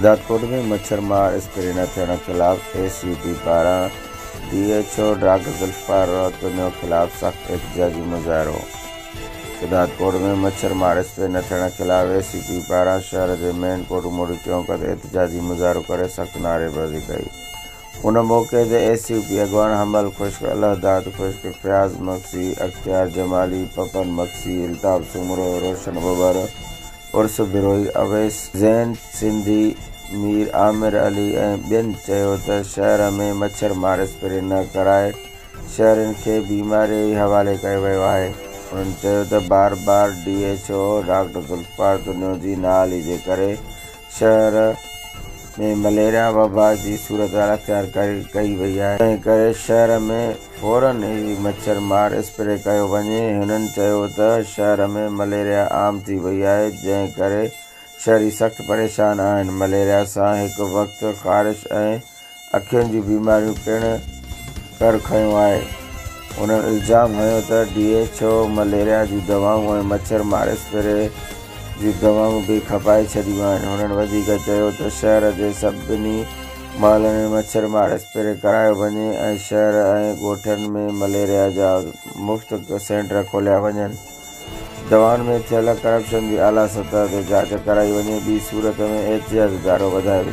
شهدادڪوٽ ۾ مڇر مار اسپري نه ٿيڻ خلاف اي سي ٽي پاران D H O doctor Zulfiqar روتنيو خلاف سخت احتجاجي مظاهرو شهدادڪوٽ ۾ مڇر مار اسپري نه ٿيڻ خلاف اي سي ٽي پاران شهر جي مين ڪوٽ موڙي ٽيون قد احتجاجي مظاهرو ڪري سخت نعريبازي ڪئي ان موقعي تي ايس يو پي اڳواڻ حمل خشڪ، الله داد خشڪ، فياض مگسي، اختيار جمالي، پپن مگسي، الطاف سومرو، روشن ٻٻر، عرس بروهي، اويس زين سنڌي، مير عامر علي ۽ ٻين چيو ته شهر ۾ مڇر مار اسپري نه ڪرائي شهرين کي بيماري ئي حوالي ڪيو ويو آهي. انهن چيو ته بار بار D H O doctor Zulfiqar تنيوجي نااهلي جي ڪري شهر ۾ مليريا وبا جي صورتحال اختيار ڪئي وئي آهي تنهن ڪري شهر ۾ فورن ئي مڇر مار اسپري ڪيو وڃي هنن چيو ته شهر ۾ مليريا عام ٿي وئي آهي جنهن ڪري شهري سخت پريشان آهن مليريا سان هڪ وقت خارش ۽ اکين جون بيماريون پڻ ڪر کنيون آهي. هن الزام هنيو ته ڊي ايڇ او مليريا جون دوائون ۽ مڇر مار اسپري جون دوائون به کپائي ڇڏيون آهن. هنن وڌيڪ چيو ته شهر جي سڀني محلن ۾ مڇر مار اسپري ڪرايو وڃي ۽ شهر ۽ ڳوٺن ۾ مليريا جا مفت سينٽر کوليا وڃن، دوائن ۾ ٿيل ڪرپشن جي اعليٰ سطح تي جاچ ڪرائي وڃي، ٻي صورت ۾ احتجاج ادارو وڌايو وڃي.